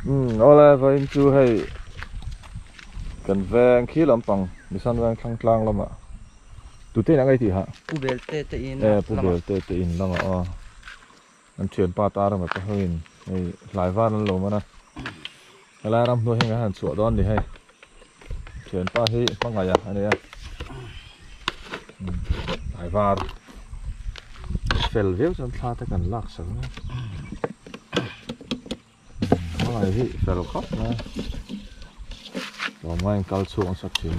Umm aw lai vawiin chu hei kan veng khi lampang Misan veng Thlangtlang lamah tute inah ngai tih hah? Pu Belte te in lamah. E Pu Belte te in lamah aw an thianpa ta rama te hoin hei hlaivar an lo man a. Helai ram hnu hi ngaih han chhuah dawn ni hei. Thianpa hi hmangaia a nia. Ai var. Fel viau chuan thla te kan lak sang a. Hmangaia hi fel khawp mai a. Tlawm ngaiin kal chhuak nasat thin.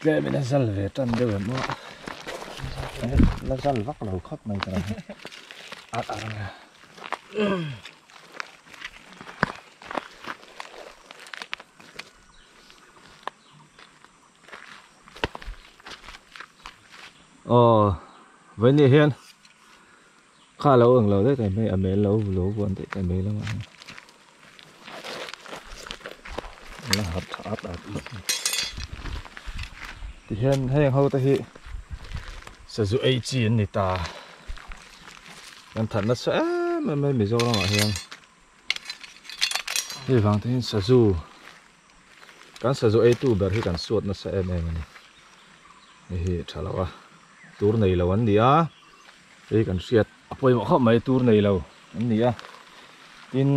Tlem in a zal ve tan deuh em aw a, la zal vak lo khawp mai ta ang a a rang a. Aw, vaini hian. Kha alo eng lo daih mai a mel lo vu lo vuan daih ta mai lamah hian eng a harh tha a ta tih hian tihian heng ho te hi sazu ei chi an ni ta kan that nasa em em mai Mizoram ah hian hei vang te hian sazu Kan sazu eitu ber hi kan suat nasa em em a ni. Hei hi tha lo a, tur nei lo an ni a, hei kan hriat a pawimawh khawp mai tur nei lo an ni a, tin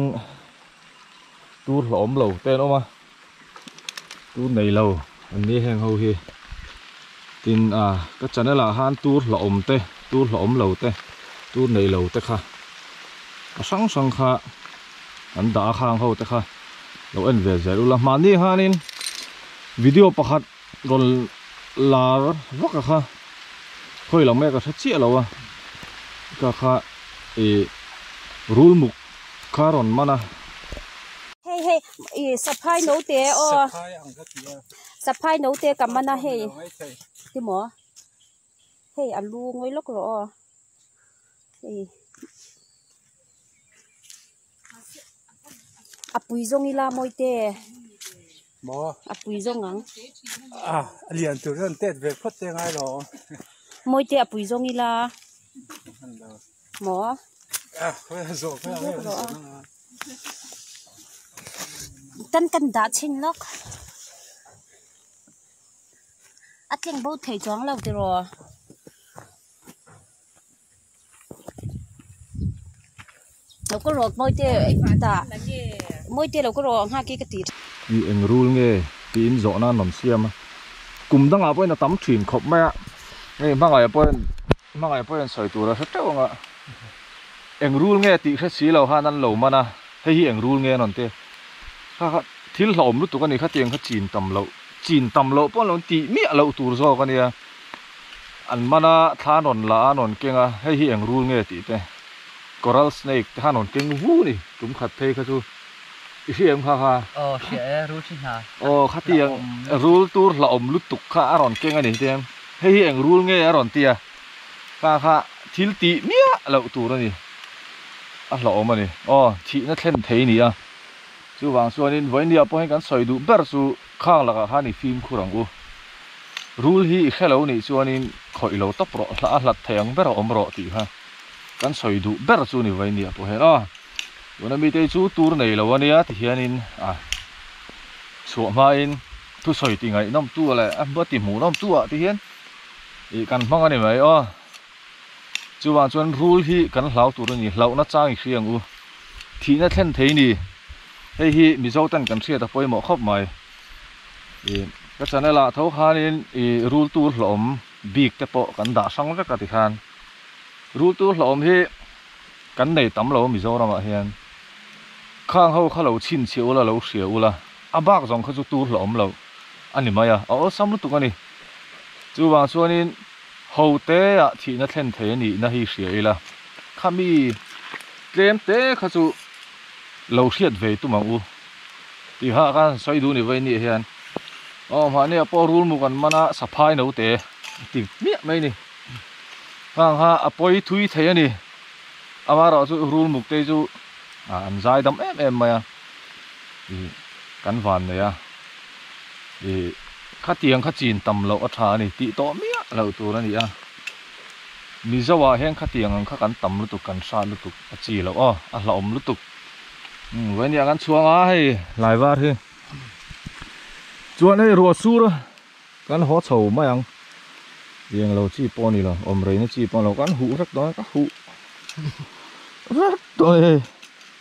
tur hlawm lo te an awm a, tur nei lo an ni a heng ho hi, tin a ka channel ah han tur hlawm te, tur hlawm lo te, tur nei lo te kha a hrang hrang kha. kan dah a khang ho te kha lo en ve zel ula mahni hanin video pakhat rawn lar vak a kha khawi lo mek a tha chiah lo a ka kha i rul muk kha rawn man a hei hei i saphai no te aw saphai ang kha ti a saphai no te ka man a hei ti maw Hei a lu ngawi lawk rawh aw. Hei. A pui zawng ila mawi te. Mo. A pui zawng ang. A lian tur zawng tet ve phawt te ngai lo. Mawi te a pui zawng ila. Mo. A hoi a zawk a ngai lo. Tan tan dah chin lawk. a tleng bo thei chuang lo tiraw lo ka rawt mawi te ta mawi te lo ka rawh ang ha ki ka ti i eng rule nge tiin zawh nan rawn siam a kum dangah pawhin a tam thin khawp mai a hei hmangaihah pawhin hmangaihah pawhin sawi tur a hre teuh ang a eng rule nge tih hre si lo han an lo man a hei hi eng rule nge an rawn ti a kha kha thil hlauhawm lutuk a ni khatiang kha chin tam loh. Chin tam loh pawn lo intih miah loh tur zawk a nia. An man a, thla an rawn la a, an rawn keng a, hei hi eng rul nge tih te. Coral snake te kha an rawn keng vu ni, kum khat phei kha chu i hria em kha kha. Aw hria e, rul thi hna. Aw khatiang rul tur hlahawm lutuk kha a rawn keng a ni tiang, hei hi eng rul nge a rawn ti a kha kha thil tih miah loh tur a ni. A hlahawm a ni. Aw thihna thlen thei nia. Chuvang chuanin vawindia pawhin kan sawi duh ber chu khang lakah khan i fimkhur ang u. Rul hi i hre lo nih chuanin khawih lo tawp rawh hla a hlat thei ang ber awm rawh tih kha kan sawi duh ber chu ni vawindia pawhin aw. Tuna mitei chu tur nei lo a nia ti hianin a chhuah hmain thusawi ti ngaihnawmtu leh a hmati hmuhnawmtuah te hian ih kan hmang a ni mai aw. Chuvang chuan rul hi kan hlau tur a ni, hlauhna chang i hriang u, thihna thlen thei ni, hei hi Mizo ten kan hriat a pawimawh khawp mai. I ka channel ah tho khanin i rul tur hlauhawm bik te pawh kan dah hrang vek a ti khan. Rul tur hlauhawm hi kan nei tam lo Mizoram ah hian, khang ho kha lo chhin chhia ula, lo hria ula, a bak zawng kha chu tur hlauhawm loh a ni mai a, a awlsam lutuk a ni. Chuvang chuanin Hoteah thihna thlen thei a nihna hi hria ila, khami tlem te kha chu lo hriat ve tum ang u tih hah khan sawi duh ni vawinia hian aw mahni a pawh rul muk an man a, saphai no te a ti miah mai ni. Hang ha a pawi thui thei a ni, amaherawhchu rul muk te chu an zai dam em em mai a. i kan van nei a, i khatiang kha chin tam loh a tha a ni tih tawh miah loh tur a ni a, Mizo ah hian khatiang ang kha kan tam lutuk kan hrat lutuk a chi loh aw, a hlauhawm lutuk vawin ni ang an chhuang a hei hlai var hi chuan hei ruah sur kan haw chho mai ang eng lo chi pawh a ni lo awm rei na chi pawh a ni lo kan huh hrek dawn a ka huh hrek dawn a ni hei.